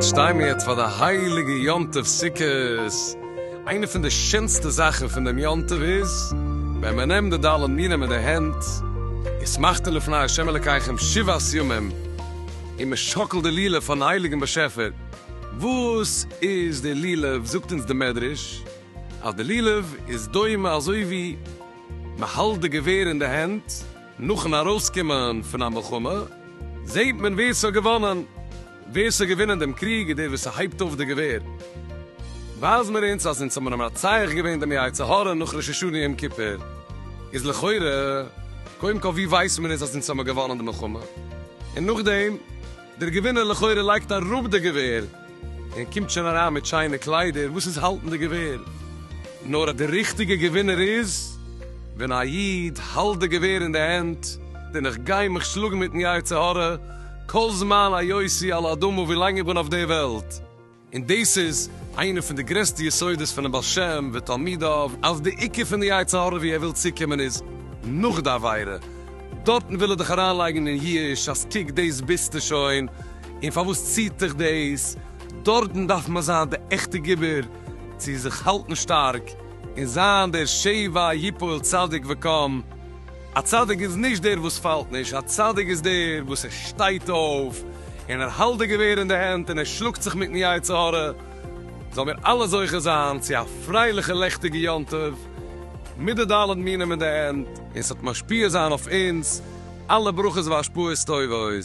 שטיי מיר יעצט פאר די הייליגע יום טוב סוכות. איינע פון די שענסטע זאכן פון דעם יום טוב איז ווען מען נעמט די ד' מינים אין די הענט, ושמחתם לפני ה' אלקיכם שבעת ימים, און מען שאקלט די לולב פארן הייליגן באשעפער. וואס איז די לולב? זאגט אונז די מדרש אז די לולב איז דומה אזוי ווי מען האלט די געווער אין די הענט, נאכן ארויסקומען פון א מלחמה זעהט מען ווער ס'האט געוואנען, ווער ס'האט געווינען דעם קריג איז דער וואס ס'הייבט אויף די געווער, ווייזט מען אונז אז אונז האבן מנצח געווען דעם יצר הרע נאך ראש השנה יום כיפור, איז לכאורה קודם כל ווי ווייסט מען אונז אז אונז האבן געוואנען די מלחמה, און נאכדעם. דער געווינער לכאורה לייגט אראפ די געווער און קומט שוין אריין מיט שיינע קליידער, וואס איז האלטן די געווער? נאר אז די ריכטיגע געווינער איז ווען א איד האלט די געווער אין די הענט, און איך גיי מיך שלאגן מיטן יצר הרע כל זמן היותי על האדמה ווילאנג איך בין אויף די וועלט. און דאס איז איינע פון די גרעסטע יסודות פונעם בעל שם ותלמידיו, אז די עיקר פון די יצר הרע ווי ער וויל צוקומען איז נאך די עבירה, דארטן וויל ער דיך אריינלייגן אין ייאוש אז קוק דאס ביסטו שוין און פארוואס ציעט דיך דאס, דארטן דארף מען זיין די עכטע גיבור צו זיך האלטן שטארק און זיין דער שבעה יפול צדיק וקם. א צדיק איז נישט דער וואס פאלט נישט, א צדיק איז דער וואס ער שטייט אויף, און ער האלט די געווער אין די הענט, און ער שלאגט זיך מיטן יצר הרע. זאלן מיר אלע זוכה זיין צו א פרייליכע לעכטיגע יום טוב, מיט די ד' מינים אין די הענט, און ס'וועט משפיע זיין אויף אונז אלע ברכות והשפעות טובות.